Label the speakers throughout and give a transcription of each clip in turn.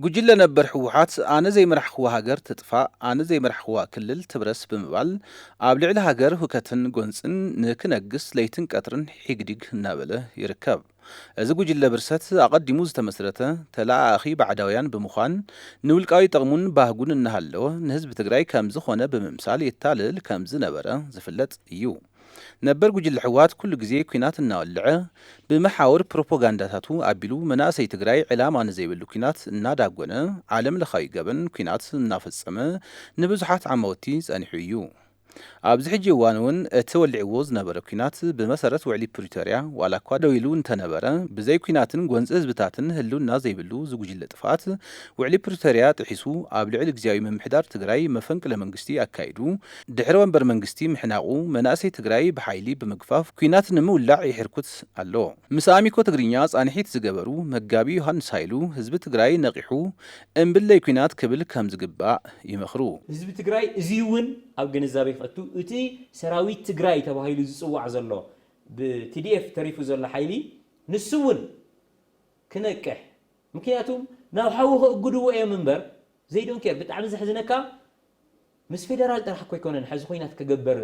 Speaker 1: ጉጅለ ነበር ህወሓት ኣነ ዘይመራሕክዋ ሃገር ትጥፋእ፣ ኣነ ዘይመራሕክዋ ክልል ትብረስ ብምባል ኣብ ልዕሊ ሃገር ሁከትን ጎንፅን ንክነግስ ለይትን ቀትርን ሒግዲግ እናበለ ይርከብ። እዚ ጉጅለ ብርሰት ኣቐዲሙ ዝተመስረተ ተለኣኣኺ ባዕዳውያን ብምዃን ንውልቃዊ ጥቕሙን ባህጉን እናሃለወ ንህዝቢ ትግራይ ከምዝኾነ ብምምሳል የታልል ከምዝነበረ ዝፍለጥ እዩ። ነበር ጉጅለ ሕወሓት ኩሉ ግዜ ኩናት እናወልዐ ብመሓውር ፕሮፖጋንዳታቱ ኣቢሉ መናእሰይ ትግራይ ዕላማ ንዘይብሉ ኩናት እናዳጎነ ዓለም ለኻዊ ገበን ኩናት እናፈፀመ ንብዙሓት ዓማውቲ ፀኒሑ እዩ። ኣብዚ ሕጂ እዋን እውን እቲ ወሊዕዎ ዝነበረ ኩናት ብመሰረት ውዕሊ ፕሪቶርያ ዋላ እኳ ደው ኢሉ እንተነበረ ብዘይ ኩናትን ጎንፂ ህዝብታትን ህልውና ዘይብሉ እዚ ጉጅለ ጥፍኣት ውዕሊ ፕሪቶርያ ጥሒሱ ኣብ ልዕሊ ግዝያዊ ምምሕዳር ትግራይ መፈንቅለ መንግስቲ ኣካይዱ ድሕሪ ወንበር መንግስቲ ምሕናቑ መናእሰይ ትግራይ ብሓይሊ ብምግፋፍ ኲናት ንምውላዕ ይሕርኩት ኣሎ። ምስ ኣሚኮ ትግርኛ ፃንሒት ዝገበሩ መጋቢ ዮሃንስ ሃይሉ ህዝቢ ትግራይ ነቒሑ እምብለይ ኲናት ክብል ከምዝግባእ ይመኽሩ። ህዝቢ ትግራይ
Speaker 2: እዙይ እውን ኣብ ግንዛቤ ከእቱ እቲ ሰራዊት ትግራይ ተባሂሉ ዝፅዋዕ ዘሎ ብ tdf ተሪፉ ዘሎ ሓይሊ ንሱ እውን ክነቅሕ ምክንያቱም ናብ ሓዊ ከእጉድዎ እዮም እምበር they don't care ብጣዕሚ ዘሕዝነካ ምስ ፌደራል ጥራሕ እኮ ኣይኮነን ሐዚ ኹናት ክግበር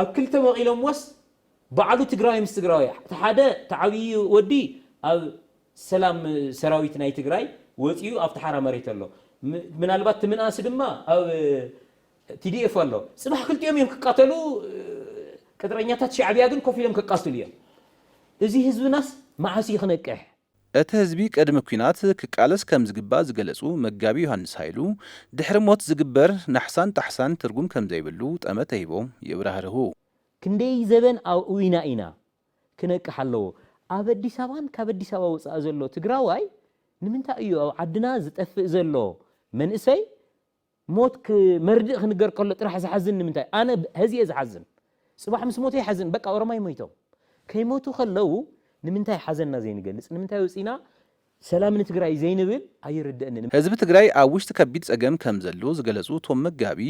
Speaker 2: ኣብ ክልተ መቂሎምዎስ ባዕሉ ትግራዋይ ምስ ትግራዋይ እቲ ሓደ እቲ ዓብይ ወዲ ኣብ ሰላም ሰራዊት ናይ ትግራይ ወፂኡ ኣብቲ ሓራ መሬት ኣሎ ምናልባት እቲ ምንኣስ ድማ ኣብ TDF ኣሎ ፅባሕ ክልቲኦም እዮም ክቃተሉ ቅጥረኛታት ሻዕቢያ ግን ኮፍ ኢሎም ከቃትሉ እዮም እዚ ህዝብናስ መዓስ እዩ ክነቅሕ። እቲ ህዝቢ
Speaker 1: ቅድሚ ኲናት ክቃለስ ከም ዝግባእ ዝገለጹ መጋቢ ዮሃንስ ሃይሉ፣ ድሕሪ ሞት ዝግበር ናሕሳን ጣሕሳን ትርጉም ከም ዘይብሉ ጠመተ ሂቦም የብራህርሁ። ክንደይ
Speaker 2: ዘበን ኣእዊና ኢና ክነቅሕ ኣለዎ። ኣብ ኣዲስ ኣበባን ካብ ኣዲስ ኣበባ ወፃኢ ዘሎ ትግራዋይ ንምንታይ እዩ ኣብ ዓድና ዝጠፍእ ዘሎ መንእሰይ ሞት ክ መርድእ ክንገር ከሎ ጥራሕ ዝሓዝን ንምንታይ ኣነ ሀዚ እየ ዝሓዝን ፅባሕ ምስ ሞተ ይሓዝን በቃ ኦሮማይ ሞይቶም ከይሞቱ ከለው ንምንታይ ሓዘንና ዘይንገልፅ ንምንታይ ወፂና ሰላም ንትግራይ ዘይንብል ኣይርደእንን። ህዝቢ ትግራይ ኣብ
Speaker 1: ውሽጢ ከቢድ ፀገም ከምዘሎ ዝገለፁ እቶም መጋቢ፣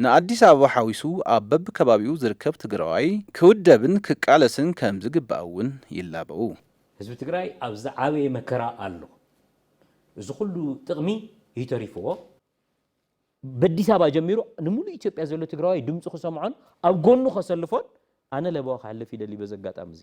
Speaker 1: ንኣዲስ ኣበባ ሓዊሱ ኣብ በቢከባቢኡ ዝርከብ ትግራዋይ ክውደብን ክቃለስን ከምዝግባእ እውን ይላበዉ። ህዝቢ ትግራይ
Speaker 2: ኣብ ዝዓበየ መከራ ኣሎ። እዚ ኩሉ ጥቕሚ እዩ ተሪፍዎ። በዲስ ኣበባ ጀሚሩ ንሙሉእ ኢትዮጵያ ዘሎ ትግራዋይ ድምፁ ክሰምዖን ኣብ ጎኑ ከሰልፎን ኣነ ለበዋ ከሕልፍ ይደሊ በዚ ኣጋጣሚ እዚ።